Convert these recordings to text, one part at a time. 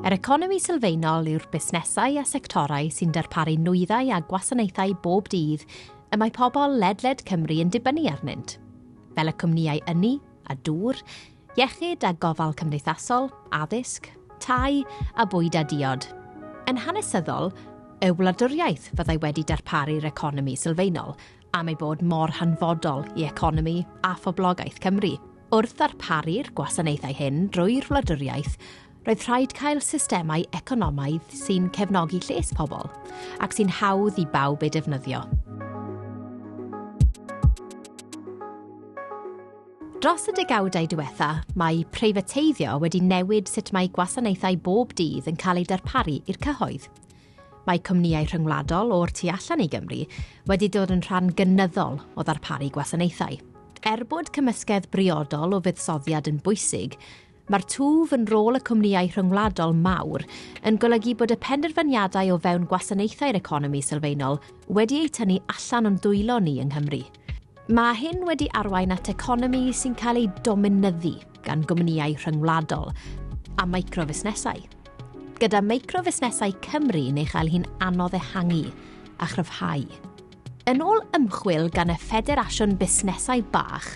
Yr economi sylfaenol yw'r busnesau a sectorau sy'n darparu nwyddau a gwasanaethau bob dydd y mae pobl ledled Cymru yn dibynnu arnynt, fel y cwmnïau ynni a dŵr, iechyd a gofal cymdeithasol, addysg, tai a bwyd a diod. Yn hanesyddol, y wladwriaeth fyddai wedi darparu'r economi sylfaenol am ei bod mor hanfodol i economi a phoblogaeth Cymru. Wrth ddarparu'r gwasanaethau hyn drwy'r wladwriaeth, roedd rhaid cael systemau economaidd sy'n cefnogi lles pobl ac sy'n hawdd i bawb ei defnyddio. Dros y degawdau diwetha, mae preifateiddio wedi newid sut mae gwasanaethau bob dydd yn cael eu darparu i'r cyhoedd. Mae cwmnïau rhyngwladol o'r tu allan i Gymru wedi dod yn rhan gynyddol o ddarparu gwasanaethau. Er bod cymysgedd briodol o fuddsoddiad yn bwysig, mae'r twf yn rôl y cwmnïau rhyngwladol mawr yn golygu bod y penderfyniadau o fewn gwasanaethau'r economi sylfaenol wedi eu tynnu allan o'n dwylo ni yng Nghymru. Mae hyn wedi arwain at economi sy'n cael ei dominyddu gan gwmnïau rhyngwladol a microfusnesau, gyda microfusnesau Cymru yn ei chael hi'n anodd ehangu a chryfhau. Yn ôl ymchwil gan y Ffederasiwn Busnesau Bach,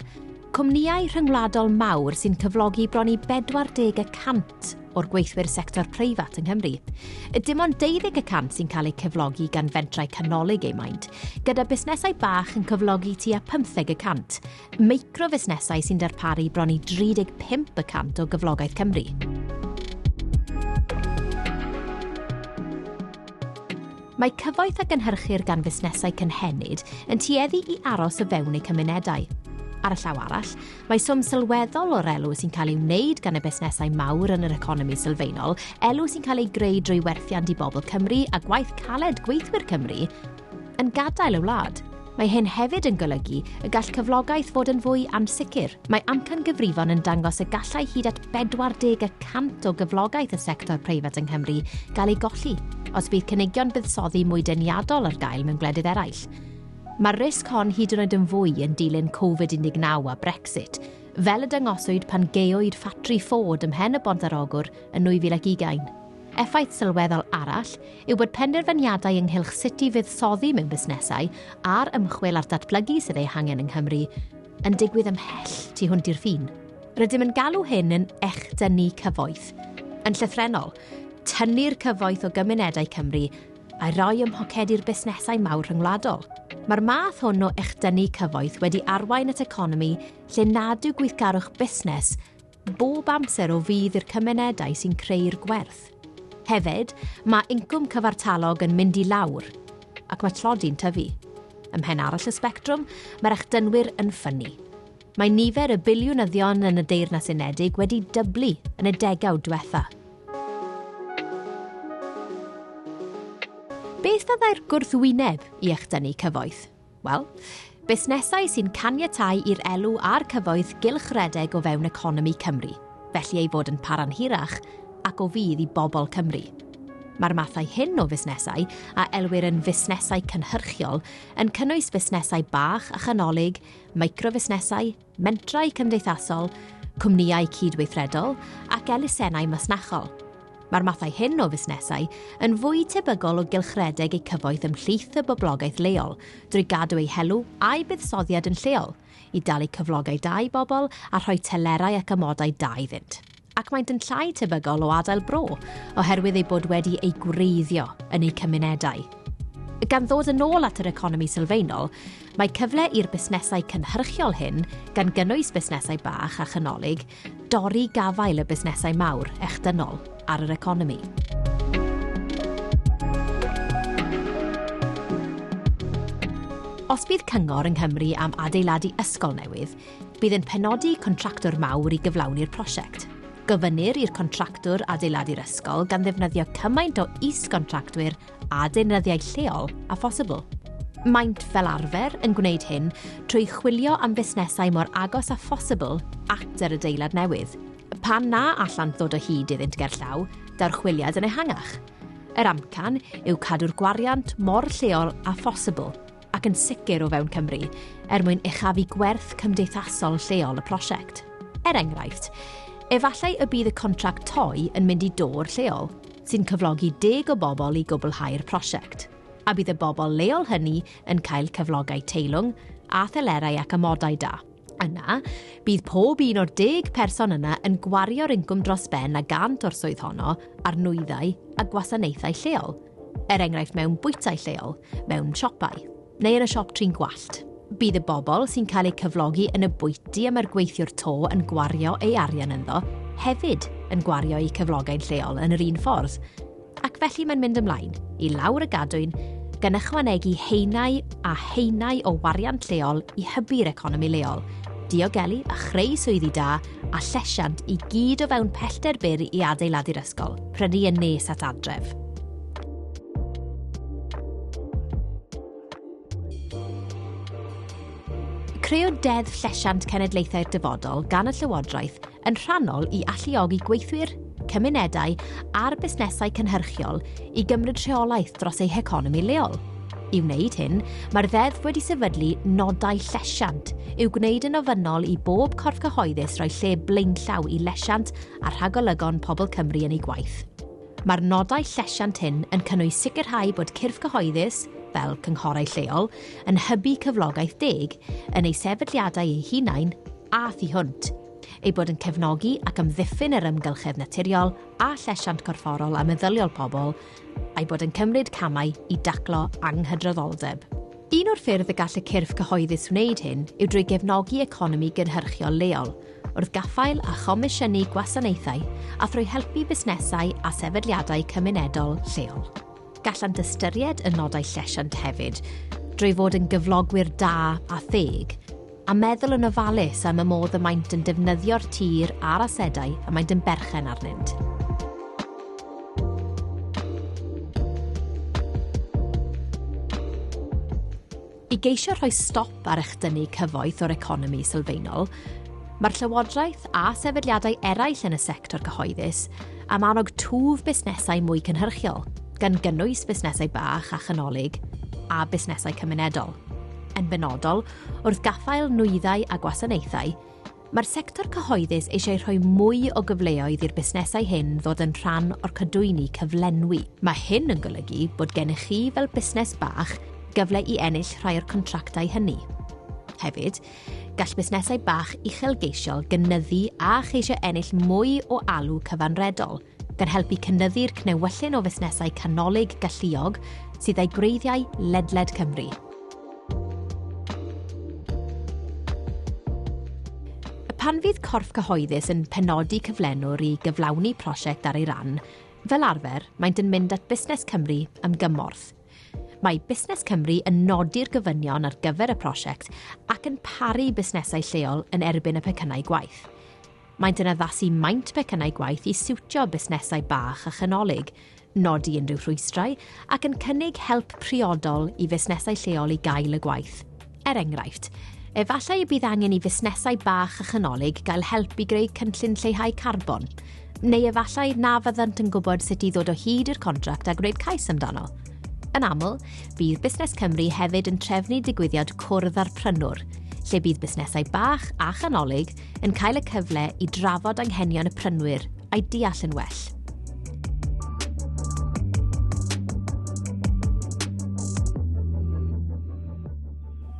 Cwmnïau rhyngwladol mawr sy'n cyflogi bron i 40 y cant o'r gweithwyr sector preifat yng Nghymru. Dim ond 12 y cant sy'n cael eu cyflogi gan fentrau canolig eu maint, gyda busnesau bach yn cyflogi tua 15 y cant, microfusnesau sy'n darparu bron i 35 y cant o gyflogaeth Cymru. Mae cyfoeth a gynhyrchir gan fusnesau cynhenid yn tueddu i aros o fewn eu cymunedau. Ar y llaw arall, mae swm sylweddol o'r elw sy'n cael ei wneud gan y busnesau mawr yn yr economi sylfaenol, elw sy'n cael ei greu drwy werthiant i bobl Cymru a gwaith caled gweithwyr Cymru, yn gadael y wlad. Mae hyn hefyd yn golygu y gall cyflogaeth fod yn fwy ansicr. Mae amcangyfrifon yn dangos y gallai hyd at 40 y cant o gyflogaeth y sector preifat yng Nghymru gael ei golli os bydd cynigion buddsoddi mwy deniadol ar gael mewn gwledydd eraill. Mae'r risg hon hyd yn oed yn fwy yn dilyn Covid-19 a Brexit, fel y dangoswyd pan gaewyd ffatri Ford ymhen y Bont ar Ogwr yn 2020. Effaith sylweddol arall yw bod penderfyniadau ynghylch sut i fuddsoddi mewn busnesau a'r ymchwil a'r datblygu sydd eu hangen yng Nghymru yn digwydd ymhell tu hwnt i'r ffin. Rydym yn galw hyn yn echdynnu cyfoeth. Yn llythrennol, tynnu'r cyfoeth o gymunedau Cymru a'i roi ym mhocedi'r busnesau mawr rhyngwladol. Mae'r math hwn o echdynnu cyfoeth wedi arwain at economi lle nad yw gweithgarwch busnes bob amser o fudd i'r cymunedau sy'n creu'r gwerth. Hefyd, mae incwm cyfartalog yn mynd i lawr ac mae tlodi'n tyfu. Ym mhen arall y sbectrwm, mae'r echdynwyr yn ffynnu. Mae nifer y biliwnyddion yn y Deyrnas Unedig wedi dyblu yn y degawd diwetha. Beth fyddai'r gwrthwyneb i echdynnu cyfoeth? Wel, busnesau sy'n caniatáu i'r elw a'r cyfoeth gylch redeg o fewn economi Cymru, felly ei fod yn para'n hirach ac o fudd i bobl Cymru. Mae'r mathau hyn o fusnesau, a elwir yn fusnesau cynhyrchiol, yn cynnwys busnesau bach a chanolig, microfusnesau, mentrau cymdeithasol, cwmnïau cydweithredol ac elusennau masnachol. Mae'r mathau hyn o fusnesau yn fwy tebygol o gylchredeg eu cyfoeth ymhlith y boblogaeth leol drwy gadw eu helw a'u buddsoddiad yn lleol, i dalu cyflogau da i bobl a rhoi telerau ac amodau da iddynt. ac maent yn llai tebygol o adael bro oherwydd eu bod wedi eu gwreiddio yn eu cymunedau. Gan ddod yn ôl at yr economi sylfaenol, mae cyfle i'r busnesau cynhyrchiol hyn, gan gynnwys busnesau bach a chanolig, dorri gafael y busnesau mawr, echdynol, ar yr economi. Os bydd cyngor yng Nghymru am adeiladu ysgol newydd, Bydd yn penodi contractwr mawr i gyflawni'r prosiect. Gofynnir i'r contractwr adeiladu'r ysgol gan ddefnyddio cymaint o is-gontractwyr a deunyddiau lleol â phosibl. Maent fel arfer yn gwneud hyn trwy chwilio am fusnesau mor agos â phosibl at yr adeilad newydd. Pan na allant ddod o hyd iddynt gerllaw, daw'r chwiliad yn ehangach. Yr amcan yw cadw'r gwariant mor lleol â phosibl. ac yn sicr o fewn Cymru, er mwyn uchafu gwerth cymdeithasol lleol y prosiect. Er enghraifft, efallai y bydd y contract toi yn mynd i dôr lleol, sy'n cyflogi deg o bobl i gwblhau'r prosiect, a bydd y bobl leol hynny yn cael cyflogau teilwng a thelerau ac amodau da. Yna, bydd pob un o'r deg person yna yn gwario'r incwm dros ben a gant o'r swydd honno ar nwyddau a gwasanaethau lleol, er enghraifft mewn bwytai lleol, mewn siopau, neu yn y siop trin gwallt. Bydd y bobl sy'n cael eu cyflogi yn y bwyty y mae'r gweithiwr to yn gwario ei arian ynddo hefyd yn gwario eu cyflogau'n lleol yn yr un ffordd. Ac felly mae'n mynd ymlaen, i lawr y gadwyn, gan ychwanegu haenau a haenau o wariant lleol i hybu'r economi leol, diogelu a chreu swyddi da a llesiant i gyd o fewn pellter byr i adeiladu'r ysgol, prynu yn nes at adref. Creu Deddf Llesiant Cenedlaethau'r Dyfodol gan y Llywodraeth yn rhannol i alluogi gweithwyr, cymunedau a'r busnesau cynhyrchiol i gymryd rheolaeth dros eu heconomi leol. I wneud hyn, mae'r ddeddf wedi sefydlu nodau llesiant i'w gwneud yn ofynnol i bob corff cyhoeddus roi lle blaenllaw i lesiant a rhagolygon pobl Cymru yn ei gwaith. Mae'r nodau llesiant hyn yn cynnwys sicrhau bod cyrff cyhoeddus, fel cynghorau lleol, yn hybu cyflogaeth deg yn eu sefydliadau eu hunain a thu hwnt, eu bod yn cefnogi ac amddiffyn yr amgylchedd naturiol a llesiant corfforol a meddyliol pobl, a'u bod yn cymryd camau i daclo anghydraddoldeb. Un o'r ffyrdd y gall y cyrff cyhoeddus wneud hyn yw drwy gefnogi economi gynhyrchiol leol, wrth gaffael a chomisiynu gwasanaethau a thrwy helpu busnesau a sefydliadau cymunedol lleol. Gallant ystyried y nodau llesiant hefyd, drwy fod yn gyflogwyr da a theg, a meddwl yn ofalus am y modd y maent yn defnyddio'r tir a'r asedau y maent yn berchen arnynt. I geisio rhoi stop ar echdynnu cyfoeth o'r economi sylfaenol, mae'r Llywodraeth a sefydliadau eraill yn y sector cyhoeddus am annog twf busnesau mwy cynhyrchiol, gan gynnwys busnesau bach a chanolig a busnesau cymunedol, yn benodol wrth gaffael nwyddau a gwasanaethau, Mae'r sector cyhoeddus eisiau rhoi mwy o gyfleoedd i'r busnesau hyn ddod yn rhan o'r cadwyni cyflenwi. Mae hyn yn golygu bod gennych chi fel busnes bach gyfle i ennill rhai o'r contractau hynny. Hefyd, gall busnesau bach uchelgeisiol gynyddu a cheisio ennill mwy o alw cyfanredol, gan helpu cynyddu'r cnewyllyn o fusnesau canolig galluog sydd â'u gwreiddiau ledled Cymru. Pan fydd corff cyhoeddus yn penodi cyflenwr i gyflawni prosiect ar ei ran, fel arfer, maent yn mynd at Busnes Cymru am gymorth. Mae Busnes Cymru yn nodi'r gofynion ar gyfer y prosiect ac yn paru busnesau lleol yn erbyn y pecynnau gwaith. Maent yn addasu maint pecynnau gwaith i siwtio busnesau bach a chanolig, nodi unrhyw rhwystrau, ac yn cynnig help priodol i fusnesau lleol i gael y gwaith. Er enghraifft, efallai y bydd angen i fusnesau bach a chanolig gael help i greu cynllun lleihau carbon, neu efallai na fyddant yn gwybod sut i ddod o hyd i'r contract a gwneud cais amdano. Yn aml, bydd Busnes Cymru hefyd yn trefnu digwyddiad cwrdd â'r prynwr, lle bydd busnesau bach a chanolig yn cael y cyfle i drafod anghenion y prynwyr a'i deall yn well.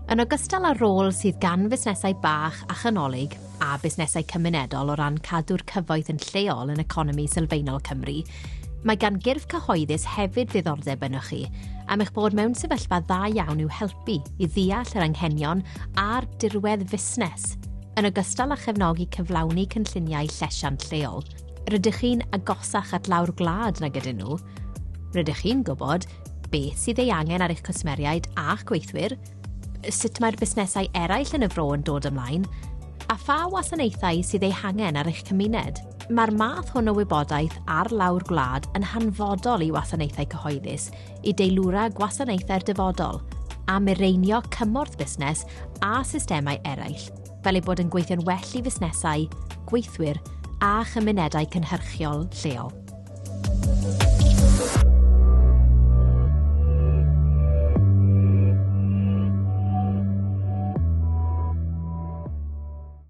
Yn ogystal â'r rôl sydd gan fusnesau bach a chanolig a busnesau cymunedol o ran cadw'r cyfoeth yn lleol yn economi sylfaenol Cymru, Mae gan gyrff cyhoeddus hefyd ddiddordeb ynoch chi am eich bod mewn sefyllfa dda iawn i'w helpu i ddeall yr anghenion a'r dirwedd fusnes, yn ogystal â chefnogi cyflawni cynlluniau llesiant lleol. Rydych chi'n agosach at lawr gwlad nag ydyn nhw. Rydych chi'n gwybod beth sydd ei angen ar eich cwsmeriaid a'ch gweithwyr, sut mae'r busnesau eraill yn y fro yn dod ymlaen, a pha wasanaethau sydd eu hangen ar eich cymuned. Mae'r math hwn o wybodaeth ar lawr gwlad yn hanfodol i wasanaethau cyhoeddus i deilwra gwasanaethau'r dyfodol a mireinio cymorth busnes a systemau eraill fel ei bod yn gweithio'n well i fusnesau, gweithwyr a chymunedau cynhyrchiol lleol.